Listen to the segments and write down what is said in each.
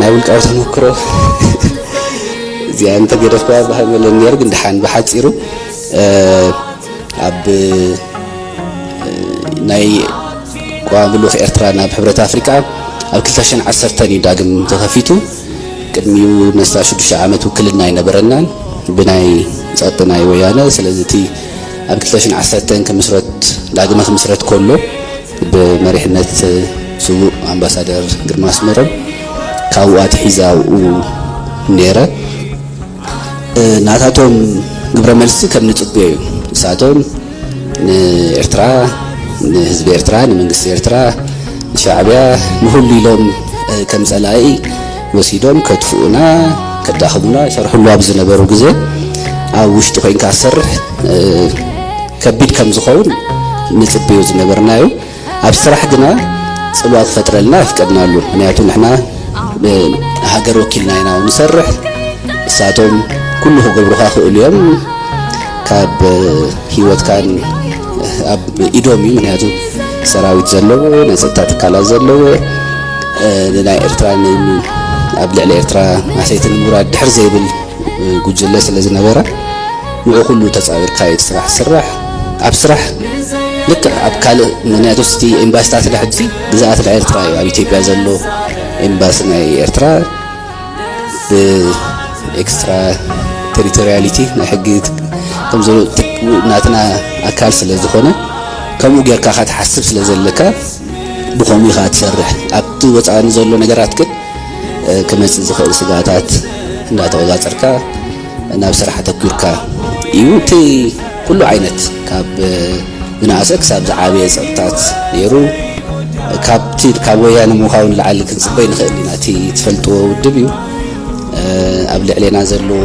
ናይ ውልቃዊ ተመክሮ እዚኣ እንተገደፍክዋ ባህል መለን ነይሩ ግን ድሓን ብሓፂሩ ኣብ ናይ ቋሚ ልኡኽ ኤርትራ ናብ ሕብረት ኣፍሪቃ ኣብ 2010 እዩ ዳግም ተኸፊቱ ቅድሚኡ ነስታ ሽዱሽተ ዓመት ውክልና ኣይነበረናን ብናይ ጸጥ ናይ ወያነ ስለዚ እቲ ኣብ 2010 ክምስረት ዳግመ ክምስረት ከሎ ብመሪሕነት ስዉእ ኣምባሳደር ግርማ ኣስመሮም ካብኡ ኣትሒዘ ኣብኡ ነይረ። ናታቶም ግብረ መልሲ ከም ንጽበዮ እዩ። ንሳቶም ንኤርትራ፣ ንህዝቢ ኤርትራ፣ ንመንግስቲ ኤርትራ፣ ንሻዕብያ ንኹሉ ኢሎም ከም ጸላኢ ወሲዶም ከጥፍኡና ከዳኽሙና ይሰርሕሉ ኣብ ዝነበሩ ግዜ ኣብ ውሽጢ ኮይንካ ዝሰርሕ ከቢድ ከም ዝኸውን ንጽብዮ ዝነበርና እዩ ኣብ ስራሕ ግና ጽልዋ ክፈጥረልና ኣፍቀድናሉ ምክንያቱ ንሕና ሃገር ወኪልና ኢና ንሰርሕ እሳቶም ኩሉ ክገብሩካ ክእሉ እዮም ካብ ሂወትካን ኣብ ኢዶም እዩ ምክንያቱ ሰራዊት ዘለዎ ናይ ፀጥታ ትካላት ዘለዎ ንናይ ኤርትራ ኣብ ልዕሊ ኤርትራ ማሰይቲ ንምውራድ ድሕር ዘይብል ጉጅለ ስለ ዝነበረ ንዑ ኩሉ ተፃዊርካ እዩ ስራሕ ስራሕ ኣብ ስራሕ ልክዕ ኣብ ካልእ ምክንያቱ ስቲ ኤምባሲታት ሕጂ ግዛኣት ናይ ኤርትራ እዩ ኣብ ኢትዮጵያ ዘሎ ኤምባሲ ናይ ኤርትራ ብኤክስትራ ቴሪቶሪያሊቲ ናይ ሕጊ ከምዚ ናትና ኣካል ስለ ዝኾነ ከምኡ ጌርካ ካ ትሓስብ ስለ ዘለካ ብኸምኡ ኢኻ ትሰርሕ ኣብቲ ወፃኢ ዘሎ ነገራት ግን ክመፅእ ዝኽእል ስጋታት እንዳተቆፃፀርካ ናብ ስራሕ ኣተኲርካ እዩ። እቲ ኩሉ ዓይነት ካብ ዝነኣሰ ክሳብ ዝዓበየ ጸቕጥታት ነይሩ። ካብቲ ካብ ወያነ ምዃው ንላዕሊ ክንጽበ ኣይንኽእልን ኢና። እቲ ትፈልጥዎ ውድብ እዩ። ኣብ ልዕሌና ዘለዎ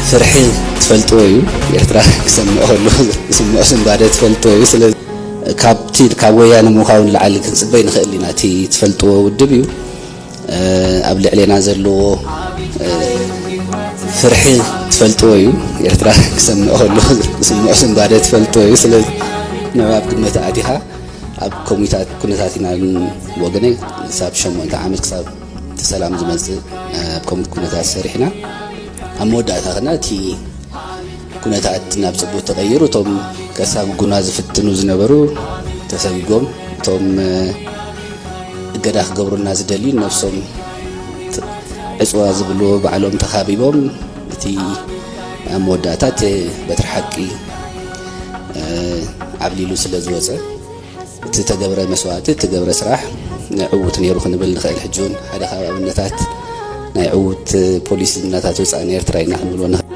ፍርሒ ትፈልጥዎ እዩ። ኤርትራ ክሰምዕ ከሎ ዝስምዖ ስንባደ ትፈልጥዎ እዩ። ስለ ካብቲ ካብ ወያነ ምዃው ንላዕሊ ክንጽበ ኣይንኽእልን ኢና። እቲ ትፈልጥዎ ውድብ እዩ። ኣብ ልዕሌና ዘለዎ ፍርሒ ትፈልጥዎ እዩ ኤርትራ ክሰምዕ ከሎ ዝስምዖ ስንባደ ትፈልጥዎ እዩ ስለ ንዑ ኣብ ግመት ኣእቲኻ ኣብ ኮሚታት ኩነታት ኢና ወገነይ ክሳብ ሸሞንተ ዓመት ክሳብ እቲ ሰላም ዝመፅእ ኣብ ከም ኩነታት ሰሪሕና ኣብ መወዳእታ ክና እቲ ኩነታት ናብ ፅቡቅ ተቀይሩ እቶም ከሳብ ጉና ዝፍትኑ ዝነበሩ ተሰጊጎም እቶም እገዳ ክገብሩልና ዝደልዩ ነብሶም ዕፅዋ ዝብልዎ ባዕሎም ተኻቢቦም እቲ ኣብ መወዳእታ እቲ በትሪ ሓቂ ዓብሊሉ ስለ ዝወፀ እቲ ተገብረ መስዋእቲ እቲ ገብረ ስራሕ ዕውት ነይሩ ክንብል ንኽእል ሕጂ እውን ሓደ ካብ ኣብነታት ናይ ዕውት ፖሊሲ ዝናታት ወፃእን ኤርትራ ኢና ክንብልዎ